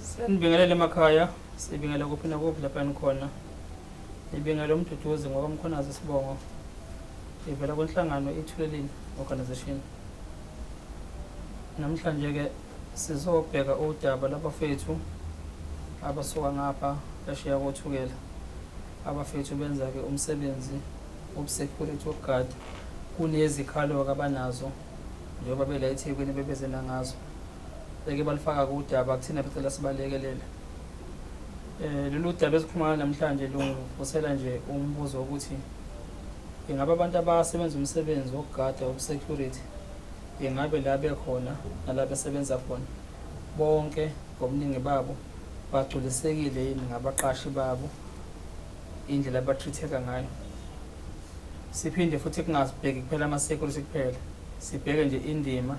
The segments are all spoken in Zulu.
Senibingelele emakhaya, sibingele kuphi nakuphi lapha nikhona. Ibingele umduduzi ngokamkhonazi isibongo. Ivela kwenhlangano iThuleleni Organization. Namhlanje ke sizobheka udaba labafethu abasuka ngapha phesheya kothukela. Abafethu benza ke umsebenzi Ubusecurity wokugada kunezikhalo-ke abanazo njengoba bela eThekwini bebeze nangazo beke balifaka kudaba kuthina becela sibalekelele eh lolu daba esikhuluma namhlanje lungivusela nje umbuzo ukuthi ingabe abantu abasebenza umsebenzi wokugada ubusecurity ingabe la bekhona nala besebenza khona bonke ngobuningi babo bagculisekile yini ngabaqashi babo indlela abatritheka ngayo siphinde futhi kungazibheki kuphela ama-security kuphela sibheke nje indima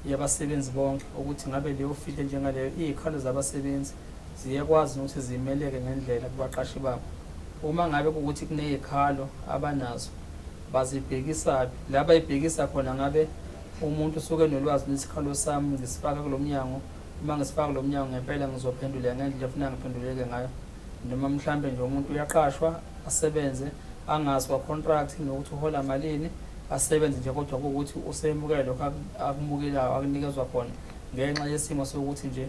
yabasebenzi bonke ukuthi ngabe leyo field enjengaleyo iy'khalo zabasebenzi ziyakwazi ukuthi zimeleke ngendlela kubaqashi babo uma ngabe kuwukuthi kuney'khalo abanazo bazibhekisaphi la bayibhekisa khona ngabe umuntu usuke nolwazi lwesikhalo sami ngisifaka kulo mnyango uma ngisifaka kulo mnyango ngempela ngizophenduleka ngendlela efuna ngiphenduleke ngayo noma mhlampe nje umuntu uyaqashwa asebenze angazi kwa-contract nokuthi uhola malini asebenze nje kodwa kuwukuthi usemukele lokho akumukelayo akunikezwa khona ngenxa yesimo sokuthi nje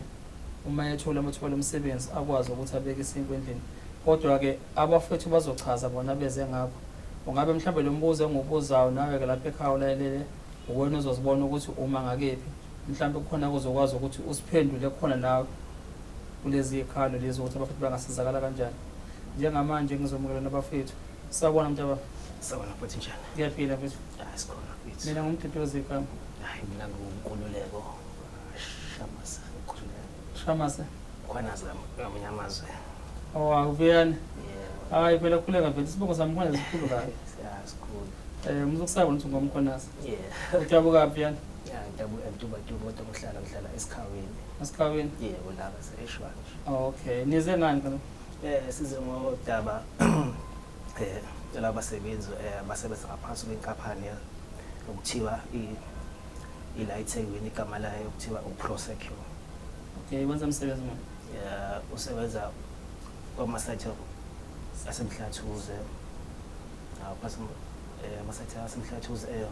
uma ethola amathuba lomsebenzi akwazi ukuthi abeke isinkwa endlini kodwa-ke abafethu bazochaza bona beze ngakho ungabe mhlawumbe lo mbuzo engiwubuzayo nawe-ke lapho ekhaya ulalelele uwena uzozibona ukuthi uma ngakephi mhlawumbe kukhona kuzokwazi ukuthi usiphendule khona nawe kulezi zikhalo lezi ukuthi abafethu bangasizakala kanjani njengamanje ngizomukela nabafethu sawubona mntaba sawubona futhi njani ngiyaphila mfethu hayi sikhona futhi mina ngumduduzi igama hayi mina ngiwunkululeko shamase ngikhululeko shamase khona zami ngamunye amazwe owakuvuyani hayi phela khuleka mfethu isibongo sami khona sikhulu kabi sikhulu um eh, umuntu ukusabona ukuthi ngomkhonasa Yeah. Udabuka phi yana? Yeah, ngidabuka eMtubatuba kodwa kuhlala ngihlala eSikhaweni. Esikhaweni? Yebo laba se-Eshwanje. Oh, okay. Nize ngani kana? Eh size ngodaba eh labasebenzi eh abasebenza ngaphansi kwenkampani ya- okuthiwa i ila eThekwini igama layo okuthiwa uProsecure. Okay, wenza msebenzi manje. Yeah, usebenza kwamasathi asemhlathuze Hawu base eh amasathi asemhlathi uz eh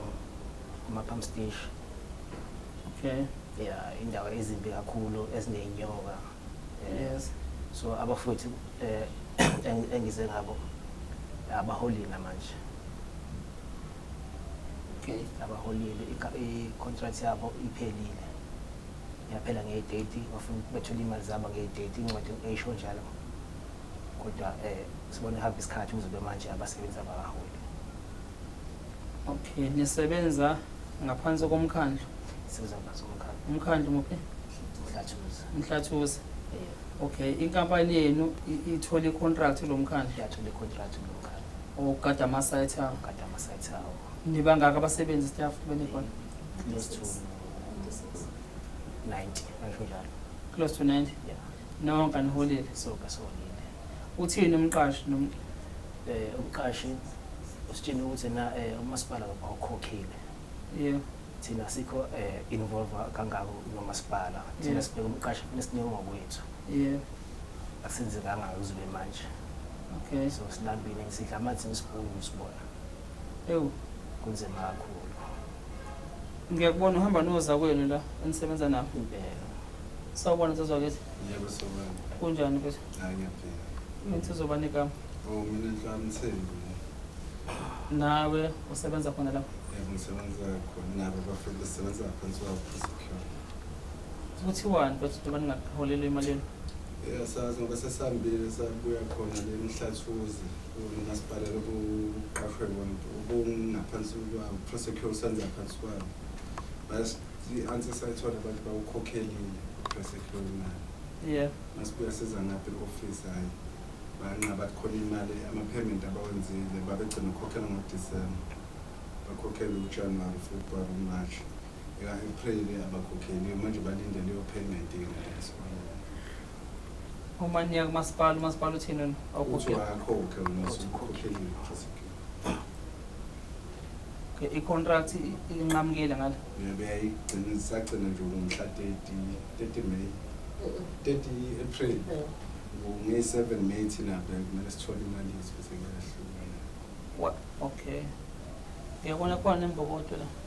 kuma pump station. Okay. Yeah, indawo ezimbi kakhulu ezinenyoka. Eh, Yes. So abafowethu eh eng- engize ngabo abaholile manje. Okay. abaholile ika- i-contract yabo iphelile yaphela ngeyi-30 bafuna ukuthi bethole imali zabo ngeyi-30 incwadi eyisho njalo kodwa eh sibona ehamba isikhathi kuzobe manje abasebenzi abakaholi okay nisebenza ngaphansi komkhandlu siza ngaso umkhandlu umkhandlu muphi mhlathuza mhlathuza yeah. okay inkampani yenu i- ithole icontract kulo mkhandlu yathola icontract kulo mkhandlu ogada ama-site awo kade amasayithi awo nibangaka abasebenzi staff benikhona close to 90 ngisho njalo close to 90 yeah Nonke aniholile. Sonke siholile. Uthini umqashi nom eh umqashi usitshena ukuthi na eh umasipala awukhokhile. Yeah. Thina sikho eh involve kangako nomasipala. Thina Yeah. sibheka umqashi kufanele sinike ngokwethu. Yeah. Asenze kangako uzube manje. Okay. So silambile sidla amanzi nesibungu sibona. Ewu, kunzima kakhulu. Ngiyakubona uhamba nozakwenu la enisebenza nabo. Impela. Sawubona sezwakithi. Yebo sawubona. Kunjani mfethu? Hayi ngiyaphila. Mina sizoba negama. Oh mina nhlani Thembi. Nawe usebenza khona lapho? Yebo ngisebenza khona nabo bafethu sisebenza phansi kwabo secure. Kuthiwani mfethu njengoba ningaholelwa emalini? Eyasazi ngoba sesihambile sabuya khona le mhlathuzi. Umasipala lokuqashwe bonke ubungaphansi kwawo prosecure usenza phansi kwawo bas i-answer sayithola abantu bawukhokhelile prosecure imali yeah masibuya siza ngaphi i-office hhayi banqa bathi khona imali ama-payment abawenzile babegcina ukukhokhela ngodisemba bakhokhele ujanuwari februwari umarch eka-april abakhokheliwe manje balindele iyo-payment ingaleso Uma niya kumasipala, umasipala uthini wena? Ukuthi Awukhokhe. wayakhokhe wena usukhokheliwe Jessica. Okay, i-contract i- inqamukile ngale. Uyabeyayigcina isagcina nje ngomhla 30 30 May 30 April. Nge 7 May thina bhe kumele sithole imali yethu bese kuyahlukana. Wa- Okay. Uyabona khona imbokodo la.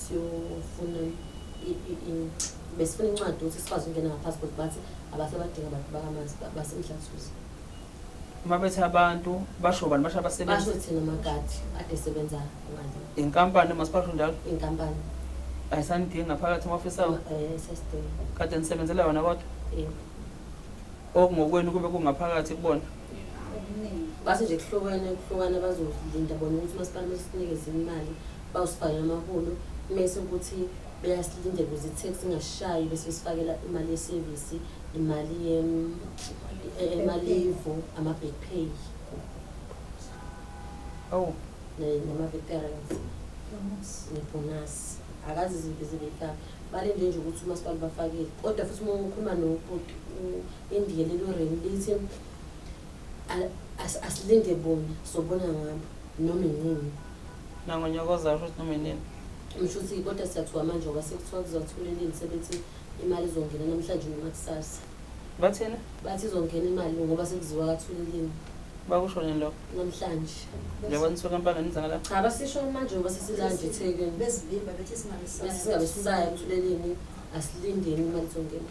siyofuna besifuna incwadi ukuthi sikwazi ukungena ngapassport bathi abasebadinga abantu bakamanzi basemhlathuza uma bethi abantu basho bani basho abasebenzi basho thina magadi ade sebenza ngani inkampani masiphathe njalo inkampani ayisanidingi ngaphakathi emafisa awo eh, kade nisebenzela yona kodwa okungokwenu kube kungaphakathi kubona base nje kuhlukane kuhlukane bazolinda bona ukuthi umasipala mesinikeze imali bawusifakela amaholo mese ukuthi beyasilindela ukuze i-tax ingashayi bese besifakela imali yesevisi imali emalivu ama-back pay oh nama-veterans nebhonasi akazi izinto ezibeyifaka balinde nje ukuthi umasipala bafakile kodwa futhi uma ukhuluma nobhuti Indiya lelo remu lithi asilinde bona sobona ngabo noma inini nangonyokoza ukuthi noma inini ngisho ukuthi kodwa siyathiwa manje ngoba sekuthiwa kuzothola inini sebethi imali izongena namhlanje noma kusasa bathina bathi izongena imali ngoba sekuziwa kathula inini bakusho nini lokho namhlanje njengoba nisuke empangeni nizakala cha basisho manje ngoba sesilanje ethekeni besingabe sisayo kuthulela inini asilindeni imali izongena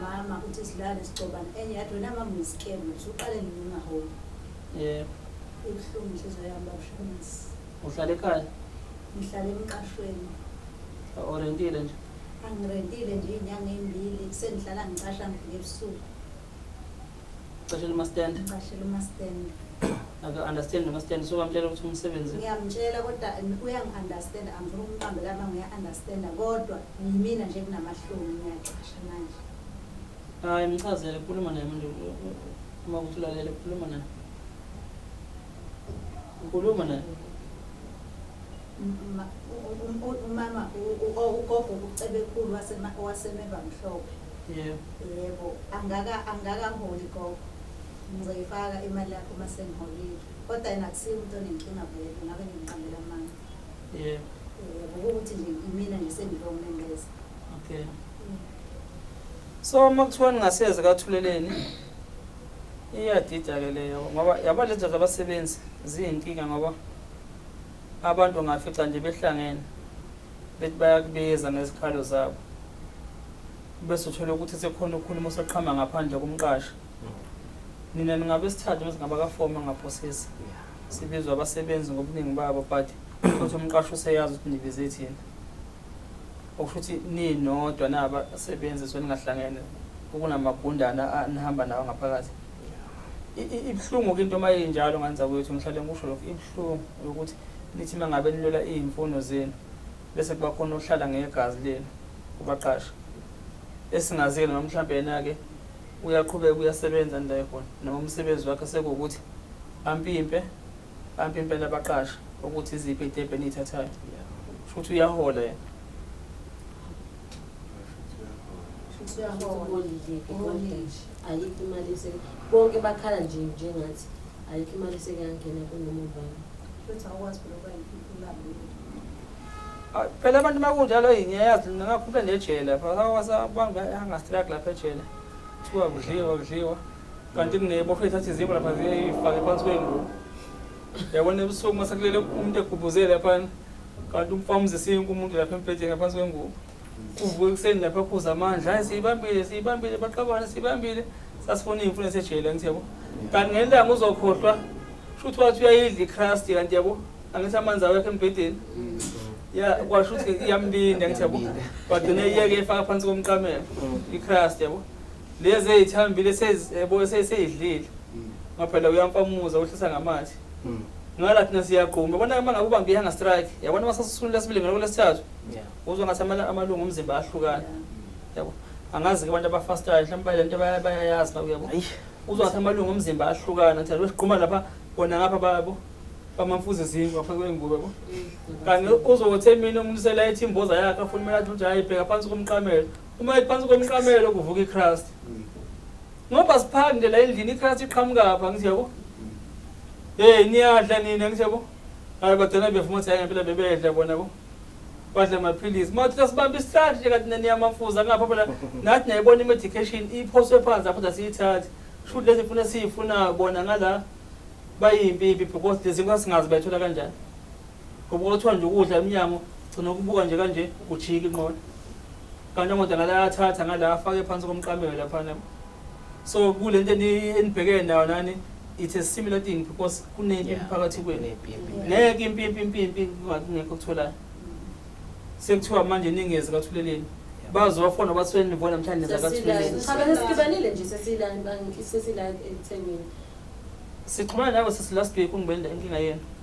Mama uthi silale sigcobana enye yathi wena mama uyisikemu wena usuqale nini ungaholi. Yebo. Ibuhlungu inhliziyo yami babushonisi. Uhlala ekhaya? Ngihlala emqashweni. Orentile nje? Angirentile nje iy'nyanga ey'mbili sengihlala ngicasha ngifike ebusuku. Cashela umastand. Cashela umastand. Aka understand umastand so bamtshela ukuthi umsebenzi. Ngiyamtshela kodwa uyangi understand angifuni ukumqambe kama ngiya understand kodwa yimina nje kunamahloni ngiyacasha manje. Hayi mchazele khuluma naye manje uma ukuthi ulalele khuluma naye. Ngikhuluma la. Umama ugogo ucebekhulu wasema wasemeva mhlophe. Yebo. Yebo, angaka angakaholi gogo. Ngizoyifaka imali yakho uma sengiholile. Kodwa yena akusiyo umuntu onenkinga vele, ngabe ngiqambela amanga. Yebo. Yebo, ukuthi nje imina nje sengilomembeza. Okay. So uma kuthiwa ningaseze kathuleleni iyadida ke leyo ngoba yabo lezo zabasebenzi ziyinkinga ngoba abantu ngafica nje behlangene bethi bayakubiza ngezikhalo zabo bese uthola ukuthi sekhona ukhuluma osaqhama ngaphandle kumqashi nina ningabe sithathe bese ngabakafoma ngaphosisa sibizwa abasebenzi ngobuningi babo but futhi umqashi useyazi ukuthi nibize thina Okusho ukuthi ninodwa nabasebenzi so ningahlangene ukunamagundana nihamba nawo ngaphakathi ibuhlungu into uma injalo nganza kwethu ngihlale ngikusho lokho ibuhlungu yokuthi nithi uma ngabe nilwela iy'mfuno zenu bese kuba khona ohlala ngegazi lenu kubaqasha esingaziyo noma mhlawumbe yena-ke uyaqhubeka uyasebenza nilaye khona noma umsebenzi wakhe sekuwukuthi ampimpe Abantu impela baqasha ukuthi iziphi itebhu eniyithathayo. Futhi uyahola yena. ayikho imali ese bonke bakhala nje njengathi ayikho imali esekuyangena kunoma ubani futhi awukwazi phela ukuba imali ah, phela abantu makunjalo ngiyayazi ngingakhuphe nejele pha abantu angastrike lapha ejele kuthiwa kudliwa kudliwa kanti kunebofo ethatha izimbo lapha ziyifake phansi kwengubo yabona ebusuku uma sekulele umuntu egubhuze laphana kanti umfana umzisinkwa umuntu lapha embhedeni ngaphansi kwengubo uvuke ekuseni lapha khuza amandla hayi siyibambile siyibambile baqabane siyibambile sasifuna iy'mfuno esejele angithi yabo kanti ngelanga uzokhohlwa shuthi wathi uyayidla icrust kanti yabo angithi amanzi awekho embhedeni ya kwasho ukuthi iyambinda angithi yabo wagcina iyeke efaka phansi komqamelo icrust yabo lezi ezithambile sezebo seseyidlile mm. ngaphela uyampamuza uhlisa ngamathe mm. ngala thina siyagquma bona uma ngabe ubambe ihanga strike yabona uma sasisunula sibili ngalo lesithathu uzwa ngathi amalungu omzimba ahlukana yabo angazi ke abantu abafastayo mhlawumbe balento bayayazi bakuye yabo uzwa ngathi amalungu omzimba ahlukana ngithe lwesiqhuma lapha bona ngapha babo bamamfuze zindlu ngapha kwengubo yabo kanti uzothe mina umsela ethi imboza yakhe afuna imali athi uthi hayi bheka phansi komqamelo uma iphansi komqamelo kuvuka iChrist mm. ngoba siphande la endlini iChrist iqhamuka apha ngithi yabo mm. hey niyadla nina ngithi yabo hayi bagcina bevuma ukuthi hayi ngempela bebedla bona bo badla amaphilisi uma uthatha sibambe isihlathi nje kanti naniyamafuza ngapha phela nathi nayibona i-medication iphoswe phansi apho da siyithathi shuthi lezi funa siyifunayo bona ngala bayimpipi because lezi nkosi singazi bayithola kanjani Ngoba kwathiwa nje ukudla emnyango gcina ukubuka nje kanje ujika inqola. Kanti amadoda ngala ayathatha ngala afake phansi komqamelo laphana. So kule nto eni- enibhekene nayo nani it's a similar thing because kunempi Yeah. phakathi kwenu. Kunempi, impi. Ngeke impi impi impi impi kunga- kungekho okutholayo. Sekuthiwa manje ningezi kathuleleni. Bazofona bathiwe nivona namhlanje neza kathuleleni. Sesilayo. Sesibanile nje sesilayo bangi- sesilayo ekuthengweni. Sixhumana nawe sisi last week ungibenda inkinga yenu.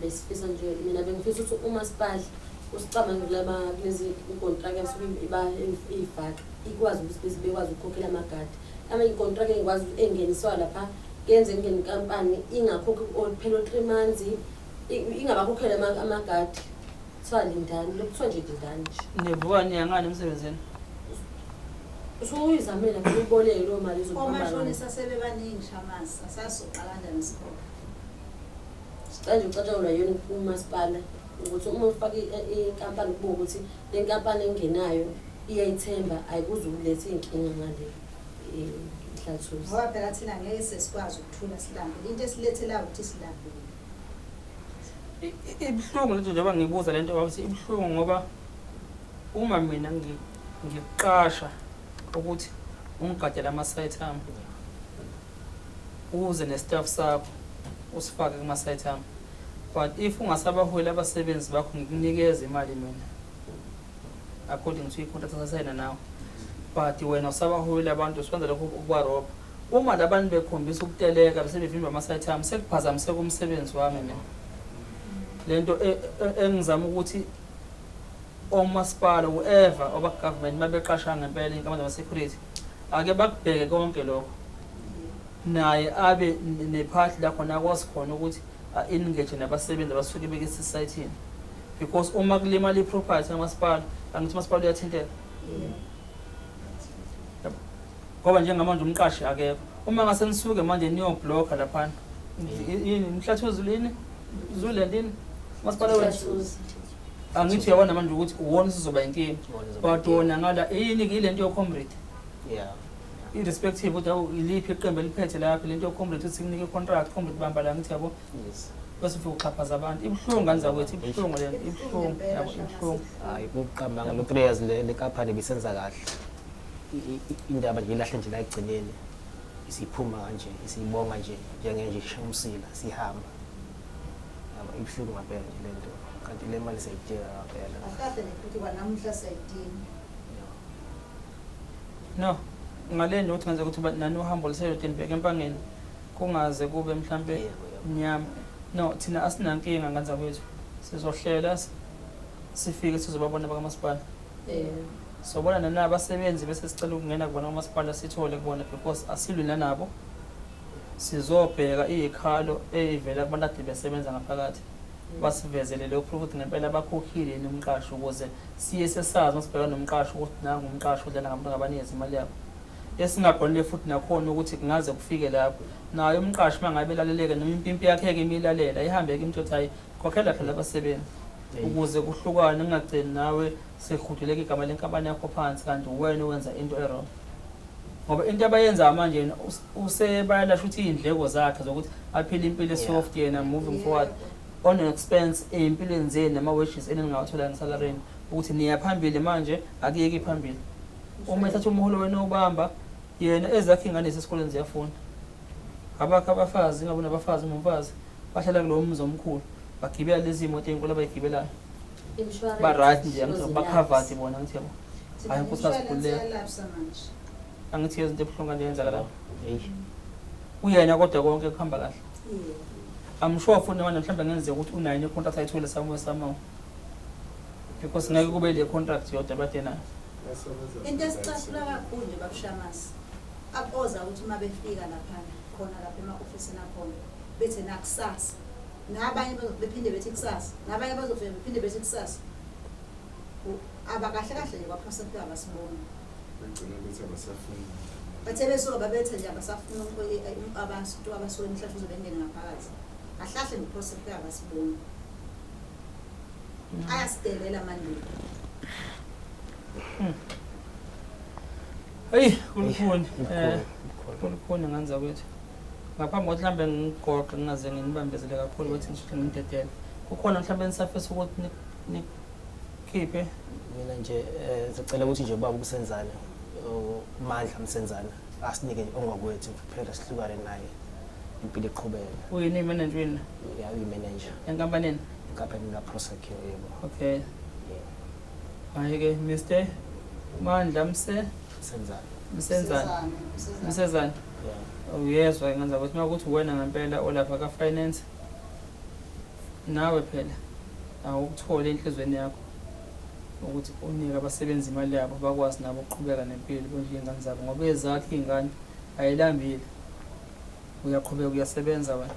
besifisa nje mina bengifisa ukuthi umasipala usicabange kulaba kulezi inkontraka yasuke iyifaka ikwazi ukuthi bese bekwazi ukukhokhela amagadi ama inkontraka engikwazi engeniswa lapha kenze ngenkampani ingakhokhi phela o-three months ingabakhokhela amagadi kuthiwa lindani lokuthiwa nje lindani nje nivuka niyangani emsebenzini usuyizamela uyiboleke loo mali omashonisa sebebaningi shamasa sasuqalanda nesikhoba Sicela nje ucatshangelwa yini umasipala ukuthi uma ufaka inkampani kubo ukuthi le nkampani engenayo iyayithemba ayikuze ukuletha iy'nkinga ngale inhlathuzi eh, ngoba phela thina ngeke sesikwazi ukuthula silambile into esilethelayo ukuthi silambile ibuhlungu lento njengoba ngibuza lento ukuthi ibuhlungu ngoba uma mina ngiqasha ukuthi ungigadele ama-site ami Uze ne staff sakho usifake kuma site ami. But if ungasabaholi abasebenzi bakho ngikunikeza imali mina. According to i contract esasayina nawe. But wena usabaholi abantu uswenza lokho ukubarobha. Uma labantu bekhombisa ukuteleka bese bevimba ama site ami sekuphazamiseka umsebenzi wami mina. Lento e, e, engizama ukuthi omasipala whoever oba government mabeqasha ngempela inkampani yama security Ake bakubheke konke lokho naye abe nephathi la khona akwazi khona ukuthi a-engage nabasebenzi abasuke beke esisayithini because uma kulimala i-property kamasipala angithi umasipala uyathinteka ngoba njengamanje umqashi akekho uma ngase nisuke manje niyoblokha laphana yini mhlathi uzulini zule ndini umasipala wethu angithi uyabona manje ukuthi uwona usizoba inkinga but wona ngala yini ile nto yocomrade yeah irrespective ukuthi awu iliphi iqembu eliphethe lapho le nto yocomrade ukuthi kunike icontract comrade bamba la ngithi yabo yes bese ufike uxhaphaza abantu ibuhlungu ngane zakwethu ibuhlungu le nto ibuhlungu yabo ibuhlungu hayi kuqambanga lo three years le kaphane bisenza kahle indaba nje ilahle nje la ekugcineni isiphuma kanje isibonga nje njengenje ishamusila sihamba ibuhlungu ngampela nje le nto kanti le mali siyayidinga ngampela akahle nekuthi kwanamuhla siyayidinga no ngale nje ukuthi ngenzeka ukuthi nani uhambo luseyodeni bheke empangeni kungaze kube mhlampe mnyama no thina asinankinga nganza kwethu sizohlela sifike sizobabona bakamasipala sobona nanabasebenzi bese sicela ukungena kubona umasipala sithole kubona because asilwi nanabo Sizobheka izikhalo ezivela kubantu akade besebenza ngaphakathi basivezele leyo proof ukuthi ngempela bakhokhile yini umqashi ukuze siye sesazi uma sibheka nomqashi ukuthi nangu umqashi udlala ngabantu ngabanikeza imali yabo esingabonile futhi nakhona ukuthi kungaze kufike lapho naye umqashi uma ngabe elaleleke noma impimpi yakhe-ke imilalela ihambe-ke imtho ukuthi hhayi khokhela phela abasebenzi ukuze kuhlukane kungagcini nawe sehuduleka igama lenkampani yakho phansi kanti uwena owenza into erongo ngoba into abayenzayo manje yena us- usebayala shuthi iy'ndleko zakhe zokuthi aphile impilo esoft yena moving forward on an expense ey'mpilweni zenu nama-wages eningawathola ngesalareni ukuthi niya phambili manje akuyeki phambili uma ethatha umholo wena owubamba yena ezakhe iy'ngane zesikoleni ziyafunda abakho abafazi ingabe unabafazi umfazi bahlala kulowo mzi omkhulu bagibela lezi moto ey'nkulu abayigibelayo Insurance Ba-right nje, angithi for the ba-covered lapse. bona, angithi yabo. Thina Hhayi, Nkosi, insurance asikhululeke. yalapsa manje. Angithi yezinto ebuhlungu kanje yenzeka lapho. Eish. Uyena kodwa konke kuhamba kahle. Yeah. I'm sure futhi noma mhlawumbe ngenzeka ukuthi unayo ne contract ayithole somewhere somehow. Because ngeke kube le contract yodwa bade nayo. Into esicasula kakhulu nje babushamasi aboza ukuthi uma befika laphana khona lapha ema-ofisini akhona bethi nakusasa nabanye bephinde bethi kusasa nabanye bazofika bephinde bethi kusasa abakahle kahle nje kwaphasa kuthiwa abasiboni bagcina ukuthi abasafuni bathe besuka babethe nje abasafuna abantu abasuke emhlahla uzobe engene ngaphakathi ahlahle ngiphosa kuthiwa abasiboni mm. ayasidelela amandulo hmm. eyi kulukhuni um eh, kulukhuni nganza kwethu Ngaphambi kokuthi mhlawumbe nginigqoqe ngingaze nginibambezele kakhulu ukuthi ngisheshe nginidedele. Kukhona mhlawumbe enisafisa ukuthi nikhiphe? Mina nje um sicela ukuthi nje ubaba uMsenzana uMandla Msenzana asinike ongakwethu kuphela sihlukane naye impilo iqhubeke. Uyini imenenja uyini? Ya uyimenenja. Enkampanini? Enkampanini kaProsecure yebo. Okay. Hayi-ke Mr Mandla Mse? Msenzana. Msenzana. Msenzana. uyezwa ngenza ukuthi uma ukuthi uwena ngempela olapha ka-finance nawe phela awukuthole enhlizweni yakho ukuthi unike abasebenzi imali yabo bakwazi nabo ukuqhubeka nempilo bondle iy'ngane zabo ngoba ezakho iy'ngane ayilambile uyaqhubeka uyasebenza wena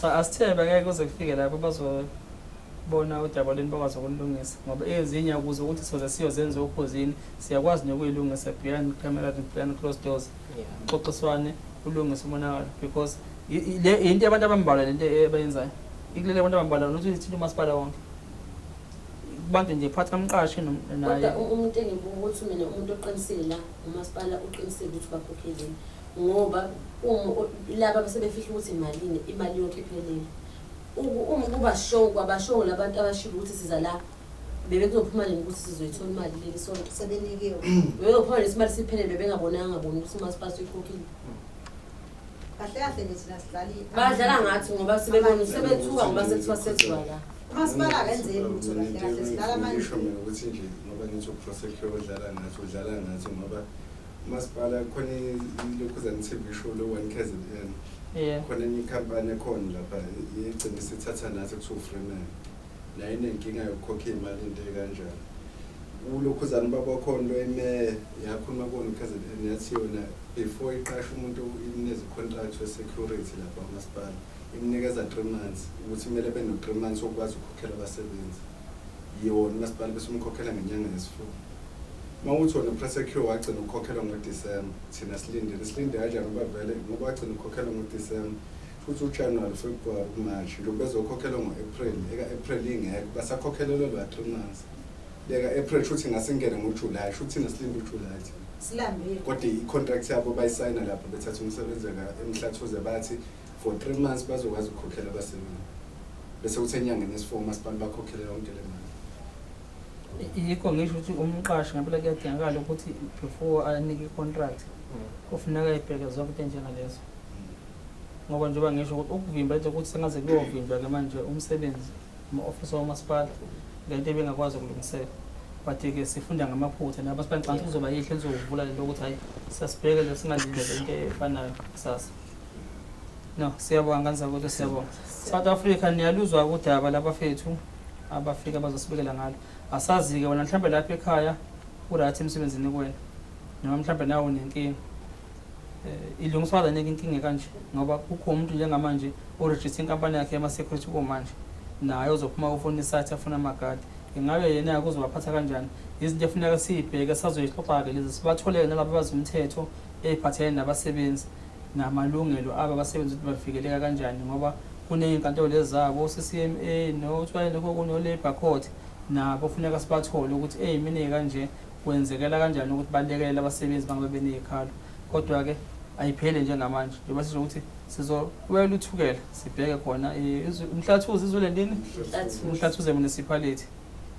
Cha asithebe ngeke kuze kufike lapho bazobona udaba lweni bakwazi ukulilungisa ngoba ezinye ukuze ukuthi soze siyozenza okhozini siyakwazi nokuyilungisa beyond camera beyond close doors uxoxiswane ulungise umonakalo because yinto abantu abambalwa lento ebayenzayo ikulele abantu abambalwa nokuthi ithinta umasipala wonke kubantu nje phatha umqashi naye umuntu engibuka ukuthi mina umuntu oqinisile la umasipala uqinisile ukuthi bakhokhezini ngoba uma laba base befihla ukuthi imalini imali yonke iphelele uma kuba show kwabashow labantu abashilo ukuthi siza la bebe kuzophuma nini ukuthi sizoyithola imali leli sonto sebenikiwe bebezophuma nesi mali siphelele bebengabonanga ngaboni ukuthi umasipala suyikhokhile kahle kahle nje thina sidlali badlala ngathi ngoba sebebona sebethuka ngoba sekuthiwa sethiwa la umasipala akenzeli lutho kahle kahle sidlala manje ngisho mina ukuthi nje ngoba ngithi uprosecure odlala ngathi udlala ngathi ngoba Masipala khona ilokhuzane TV show lo one KZN. Yeah. Khona enye company ekhona lapha igcina isithatha nathi kuthiwa Freeman. La inenkinga yokukhokha imali into ekanjalo. Ulokhuzane baba khona lo emeya yakhuluma kona KZN yathi yona before iqasha umuntu imnezi contract we security lapha masipala. Imnikeza 3 months ukuthi kumele beno 3 months okwazi ukukhokhela abasebenzi. Yona masipala bese umkhokhela ngenyanga yesifuba. Mawuthi wena upresse queue wagcina ukukhokhela ngoDecember, thina silindile. Silinde kanjani ngoba vele ngoba wagcina ukukhokhela ngoDecember futhi uJanuary, February, uMarch nje bezokhokhelwa ngo-April. Eka-April ingekho basakhokhelelwe lwa three months. Leka-April shuthi ngasingene ngoJuly, shuthi thina silinde uJuly thina. Silambile. Kodwa i-contract yabo bayisayina lapho bethatha umsebenzi la eMhlathuze bathi for three months bazokwazi ukukhokhela abasebenzi. Bese kuthi enyangeni yesi-four umasipala bakhokhele yonke le mali. yikho ngisho ukuthi umqashi ngempela kuyadingakala ukuthi before anike i-contract kufuneka ibheke zonke into enjengalezo ngoba njengoba ngisho ukuthi ukuvimba into ukuthi sengaze kuyovinjwa-ke manje umsebenzi uma-ofisa womasipala lento ebengakwazi ukulungiseka but-ke sifunda ngamaphutha namasipala ngicanga ukuthi kuzoba yihle nizokuvula lento ukuthi hhayi siyasibheke le singalindele into efanayo kusasa no siyabonga nganisa ukuthi siyabonga south africa niyaluzwa kudaba labafethu abafika bazosibekela ngalo asazi-ke wena mhlawumbe lapha ekhaya urathi emsebenzini kuwena noma mhlawumbe nawe unenkinga um ilungiswa kanike inkinga kanje ngoba kukho umuntu njengamanje orejiste inkampani yakhe yama-security komanje naye ozophuma ufuna isathi afuna amagadi ingabe yena kuzobaphatha kanjani izinto efuneka siyibheke sazoyixoxa-ke lezi sibatholeke nalaba bazi umthetho eyiphathelene nabasebenzi namalungelo abo abasebenzi ukuthi bavikeleka kanjani ngoba kuney'nkantolo lezi zabo o-CCMA nokuthiwa lokho okunye o-labour court nabo funeka sibathole ukuthi eyi mina kanje kwenzekela kanjani ukuthi balekelele abasebenzi bangabe beney'khalo kodwa-ke ayiphele njengamanje njengoba sisho ukuthi sizokwela uthukela sibheke khona eh, umhlathuzi izule ndini umhlathuze municipality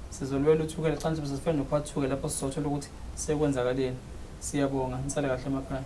Sizolwela uThukela ekuqaleni sibe sesifana nokwaThukela lapho sizothola ukuthi sekwenzakaleni. Siyabonga, nisale kahle emakhaya.